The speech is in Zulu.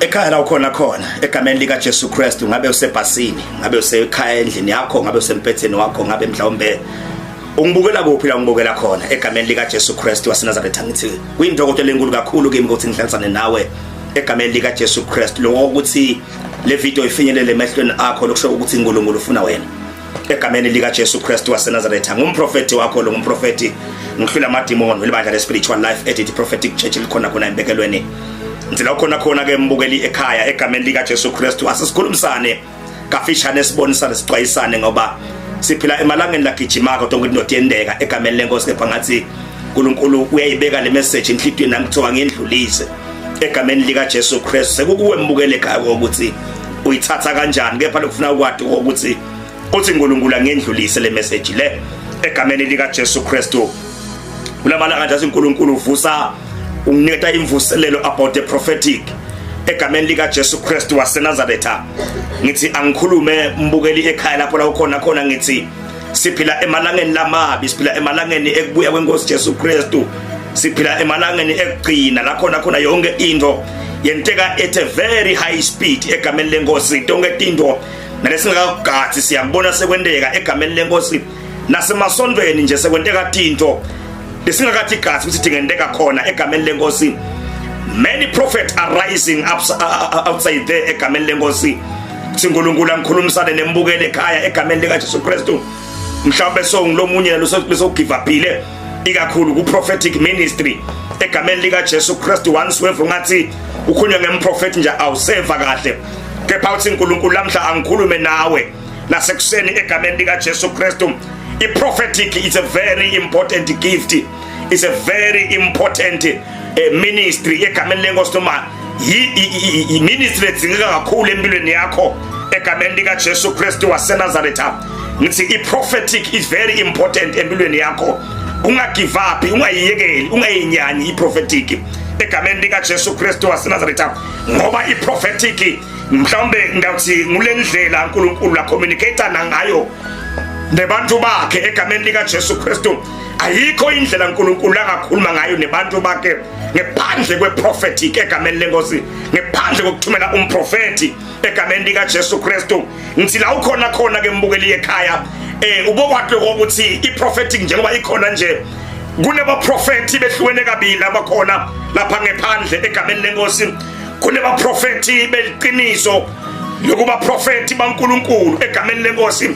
ekhaya la ukhona khona egameni lika Jesu Kristu ngabe usebhasini ngabe usekhaya endlini yakho ngabe usempetheni wakho ngabe mhlawumbe ungibukela kuphi la ngibukela khona egameni lika Jesu Kristu waseNazaretha ngithi kuyintokoto lenkulu kakhulu kimi ukuthi ngihlansane nawe egameni lika Jesu Kristu lokho ukuthi le video ifinyelele emehlweni akho lokusho ukuthi uNkulunkulu ufuna wena egameni lika Jesu Kristu waseNazaretha ngumprofeti wakho lo ngumprofeti ngihlula amadimoni welibandla le spiritual life edit prophetic church likhona khona embekelweni ngicela ukhona khona ke mbukeli ekhaya egameni lika Jesu Kristu asisikhulumisane kafishane sibonisane sixwayisane ngoba siphila emalangeni lagijima kodwa ukuthi notiyendeka egameni lenkosi kepha ngathi uNkulunkulu uyayibeka le message enhlitweni nami kuthiwa ngiyendlulise egameni lika Jesu Christ sekukuwe mbukele ekhaya ukuthi uyithatha kanjani kepha lokufuna ukwati ukuthi uthi uNkulunkulu angendlulise le message le egameni lika Jesu Christ kulamalanga nje uNkulunkulu uvusa unginiketa imvuselelo about the prophetic egameni lika Jesu Christ waseNazaretha ngithi angikhulume mbukeli ekhaya lapho la ukhona khona ngithi siphila emalangeni lamabi siphila emalangeni ekubuya kwenkosi Jesu Kristu siphila emalangeni ekugcina la khona khona yonke into yenteka at a very high speed egameni lenkosi tonke tinto nalesingakakugathi siyabona sekwenteka egameni lenkosi nasemasondweni nje sekwenteka tinto lesingakathi gathi ukuthi dingenteka khona egameni lenkosi many prophets are rising up, uh, uh, uh, outside there egameni lenkosi Kuthi uNkulunkulu angikhulumisane nembukele ekhaya egameni lika Jesu Kristu. Mhlawumbe so ngilomunye losogive uphile ikakhulu ku prophetic ministry egameni lika Jesu Kristu once wave ungathi ukhulunywa ngemprophet nje awuseva kahle kepha uthi uNkulunkulu lamhla angikhulume nawe nasekuseni egameni lika Jesu Kristu i prophetic is a very important gift is a very important eh, ministry egameni lenkosi noma ministry edzingeka kakhulu empilweni yakho egameni likaJesu Kristu waseNazaretha ngithi i-prophetic is very important empilweni yakho ungagive up ungayiyekeli ungayinyanyi i-prophetic egameni likaJesu Kristu waseNazaretha ngoba i-prophetic mhlawumbe ngawuthi ngule ndlela uNkulunkulu la communicator nangayo nebantu bakhe egameni likaJesu Kristu ayikho indlela uNkulunkulu angakhuluma ngayo nebantu bakhe ngephandle kweprophetic egameni lenkosi ngephandle kokuthumela umprofeti egameni lika Jesu Kristu ngithi la ukhona khona ke mbukeli ekhaya eh ubokwakhe ukuthi iprophetic njengoba ikhona nje kunebaprofethi behlukene kabili abakhona lapha ngephandle egameni lenkosi kunebaprofethi beliqiniso lokuba profethi baNkuluNkulu egameni lenkosi